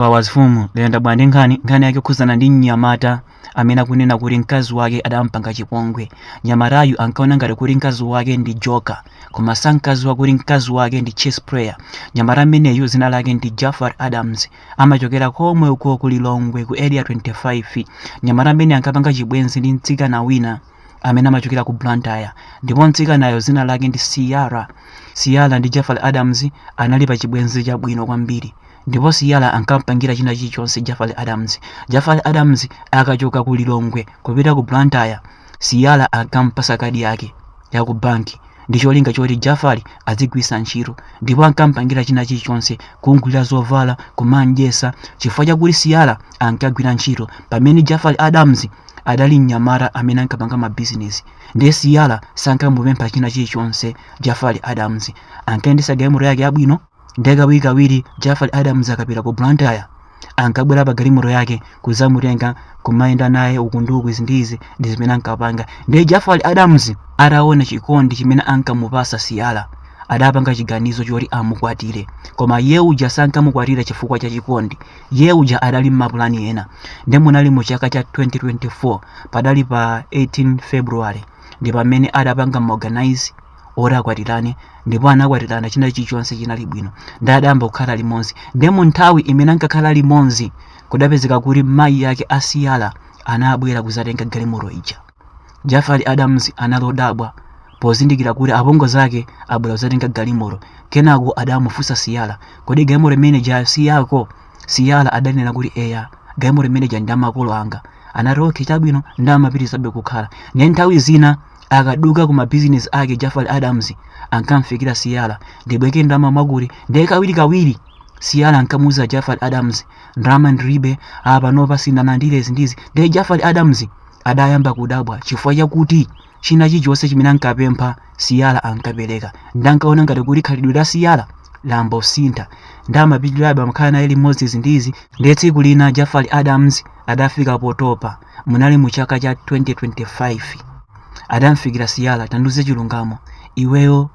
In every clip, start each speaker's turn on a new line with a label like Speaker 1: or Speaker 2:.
Speaker 1: Powers Fumu layenda bwa ndi nkhani nkhani yake yokhuzana ndi mnyamata amene akunena kuti mkazi wake adampanga chipongwe mnyamatayu ankaona ngati kuti mkazi wake ndi joker koma sankadziwa kuti mkazi wake ndi chess player mnyamata ameneyu dzina lake ndi jafar adams amachokera komwe uko ku lilongwe ku area 25 mnyamata ameneyu ankapanga chibwenzi ndi mtsikana wina amene amachokera ku blantyre ndipo mtsikanayo dzina lake ndi siyala siyala ndi jafar adams anali pa chibwenzi chabwino kwambiri ndipo siyala ankampangira china chilichonse jafar adams jafar adams akachoka ku lilongwe kupita ku blantyre siyala ankampasa kadi yake ya ku banki ndi cholinga choti jafar azigwisa ntchito ndipo ankampangira china chilichonse kumgulira zovala kumamdyesa chifukwa chakuti siyala ankagwira ntchito pamene jafar adams adali mnyamata amene ankapanga mabizinesi ndiye siyala sankamupempha china chilichonse jafar adams ankayendesa galimoto yake yabwino ndiye kawirikawiri jafar adams akapita ku blantyre ankabwera pa galimoto yake kuzamutenga kumayenda naye uku ndi uku izi ndi izi ndi zimene ankapanga ndiye jafar adams ataona chikondi chimene ankamupasa siyala adapanga chiganizo choti amukwatire koma iye uja sankamukwatira chifukwa cha chikondi iye uja adali ndi mapulani ena ndiye munali mu chaka cha 2024 padali pa 18 february ndi pamene adapanga ma organize oti akwatirane ndipo anakwatirana china chilichonse chinali bwino nde adayamba kukhala limodzi nde mu nthawi imene ankakhala limodzi kudapezeka kuti mayi yake a siyala anabwera kuzatenga galimoto ija jafar adams anali odabwa pozindikira kuti apongozi ake abwera kuzatenga galimoto kenako adamufunsa siyala kodi galimoto imene ija si yako siyala adanena kuti eya galimoto imene ija ndi ya makolo anga anati okay chabwino nde amapitirizabe kukhala nde nthawi zina akaduka ku mabizinesi ake jafar adams ankamfikira siyala ndibwereke ndalama mwakuti ndiye kawirikawiri siyala ankamuuza jafar adams ndalama ndilibe apa panopa sindinalandire izi ndizi ndiye jafar adams adayamba kudabwa chifukwa chakuti china chilichonse chimene ankapempha siyala ankapereka nde ankaona ngati kuti khalidwe la siyala layamba kusintha nde amapitirabe amakhala naye limodzi izi ndizi ndiye tsiku lina jafar adams adafika potopa munali mu chaka cha 2025 adamfikira siyala tandiuze chilungamo iweyo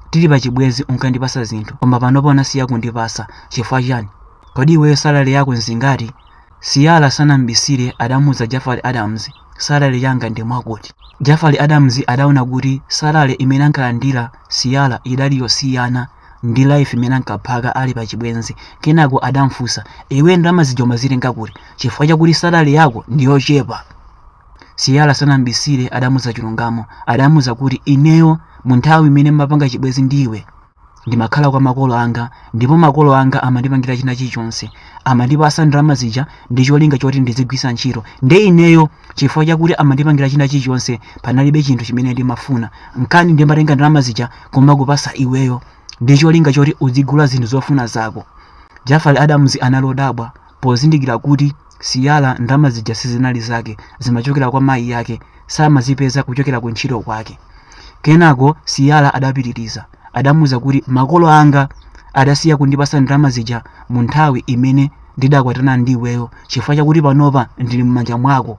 Speaker 1: tili pachibwezi unkandipasa zinthu koma panopa unasiya kundipasa chifukwa chani kodi iweyo salale yako nzingati siyala sanambisire adamuuza jafar adams salale yanga ndi mwakuti jafar adams adaona kuti salale imene ankalandira siyala idali yosiyana ndi life imene ankaphaka ali pa chibwenzi kenako adamfunsa iwe ndalama zija umazitenga kuti chifukwa chakuti salary yako ndi yochepa Ciara sanambisire adamuza chilungamo adamuza kuti ineyo mu nthawi imene mmapanga chibwenzi ndiwe ndimakhala kwa makolo anga ndipo makolo anga amandipangira china chilichonse amandipasa ndalama zija ndi cholinga choti ndizigwiritsa ntchito nde ineyo Chifukwa chakuti amandipangira china chilichonse panalibe chinthu chimene ndimafuna. Nkana ndimatenga ndalama zija kumakupasa iweyo ndicholinga choti udzigula zinthu zofuna zako. Jafali Adams anali odabwa pozindikira kuti Ciara ndalama zija sizinali zake zimachokera kwa mayi ake samazipeza kuchokera ku ntchito kwake. Kenako Ciara adapitiliza adamuuza kuti makolo anga adasiya kundipasa ndalama zija mu nthawi imene ndidakwatana ndi iweyo chifukwa chakuti panopa ndili m'manja mwako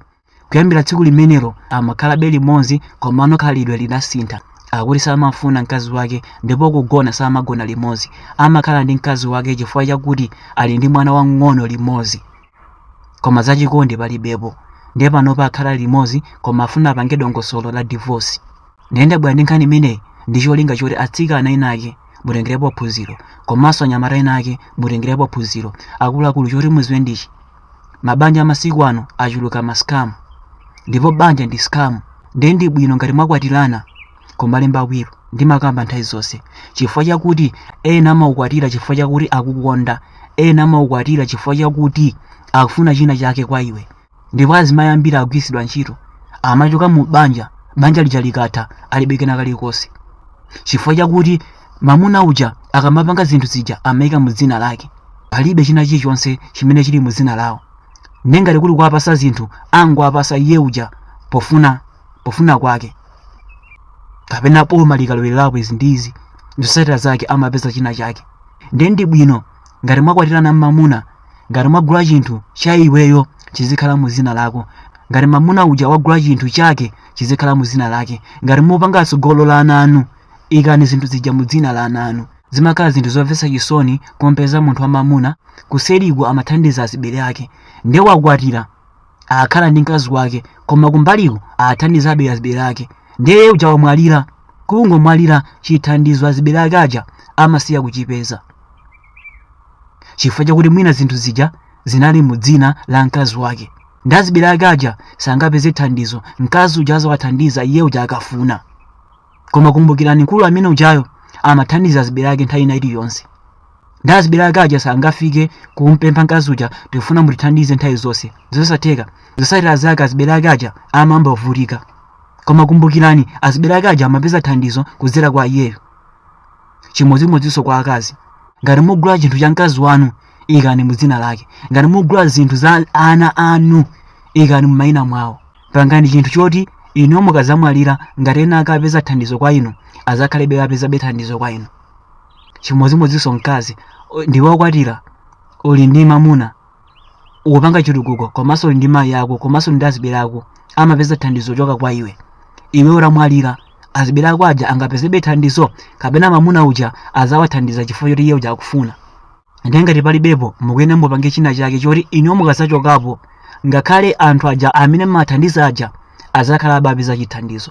Speaker 1: kuyambira tsiku limenelo amakhalabe limodzi komano khalidwe lidasintha akuti samafuna mkazi wake ndipo kugona samagona limodzi amakhala ndi mkazi wake chifukwa chakuti ali ndi mwana wamng'ono limodzi koma zachikondi palibepo ndiye panopa akhala limodzi koma afuna apange dongosolo la divorce ndiye ndabwera ndi nkhani imeneyi ndi cholinga choti atsikana enaake mutengerepo phunziro komanso anyamata ena ake mutengerepo phunziro akuluakulu choti muziwe ndichi mabanja amasiku ano achuluka ma scam ndipo banja ndi scam ndiye ndi bwino ngati mwakwatirana kumalemba will ndimakamba nthawi zonse chifukwa chakuti ena amaukwatira chifukwa chakuti akukonda ena amaukwatira chifukwa chakuti akufuna china chake kwa iwe ndipo azimayi ambiri agwiritsidwa ntchito amachoka mu banja banja lija likatha alibe kena kalikonse chifukwa chakuti mamuna uja akamapanga zinthu zija amayika mu dzina lake palibe china chilichonse chimene chili mu dzina lawo nde ngati kuli kuwapasa zinthu angowapasa iye uja pofuna kwake kapena boma likalowelerapo izi ndi izi zotsatira zake amapeza china chake ndiye ndi bwino ngati mwakwatirana mmamuna ngati mwagula chinthu cha iweyo chizikhala mu zina lako ngati mamuna uja wagula chinthu chake chizikhala mu zina lake ngati mupanga tsogolo la ana anu ikani zinthu zija mu dzina la ana anu zimakhala zinthu zomvetsa chisoni kumpeza munthu wamamuna kuseriku amathandiza azibale ake nde wakwatira akhala ndi mkazi wake koma kumbaliku athandizabe azibale ake nde iye uja wamwalira kungomwalira chithandizo azibale ake aja amasiya kuchipeza chifukwa chakuti mwina zinthu zija zinali mu dzina la mkazi wake nde azibale ake aja sangapeze thandizo mkazi uja azawathandiza iye uja akafuna koma kumbukirani mkulu amene ujayo amathandiza azibale ake nthawi ina iliyonse ndiye azibale ake aja sangafike kumpempha mkazi uja tikufuna mutithandize nthawi zonse zosatheka zotsatira zake azibale ake aja amayamba kuvutika koma kumbukirani azibale ake aja amapeza thandizo kudzera kwa iyeyo chimodzimodzinso kwa akazi ngati mugula chinthu cha mkazi wanu ikani mu dzina lake ngati mugula zinthu za ana anu ikani mu mayina mwawo pangani chinthu choti inu mukadzamwalira ngati ena ake amapeza thandizo kwa inu azakhalebe apezebe thandizo kwa inu chimodzimodzinso mkazi o- ndiwe wakwatira uli ndi mamuna ukupanga chitukuko komanso uli ndi mayi ako komanso uli ndi azibale ako amapeza thandizo choka kwa iwe iwe ukamwalira azibale ako aja angapezebe thandizo kapena mamuna uja azawathandiza chifukwa choti iye uja akufuna ndiye ngati palibepo mukuyenera mupange china chake choti inuyo mukazachokapo ngakhale anthu aja amene mumathandiza aja azakhala akupeza chithandizo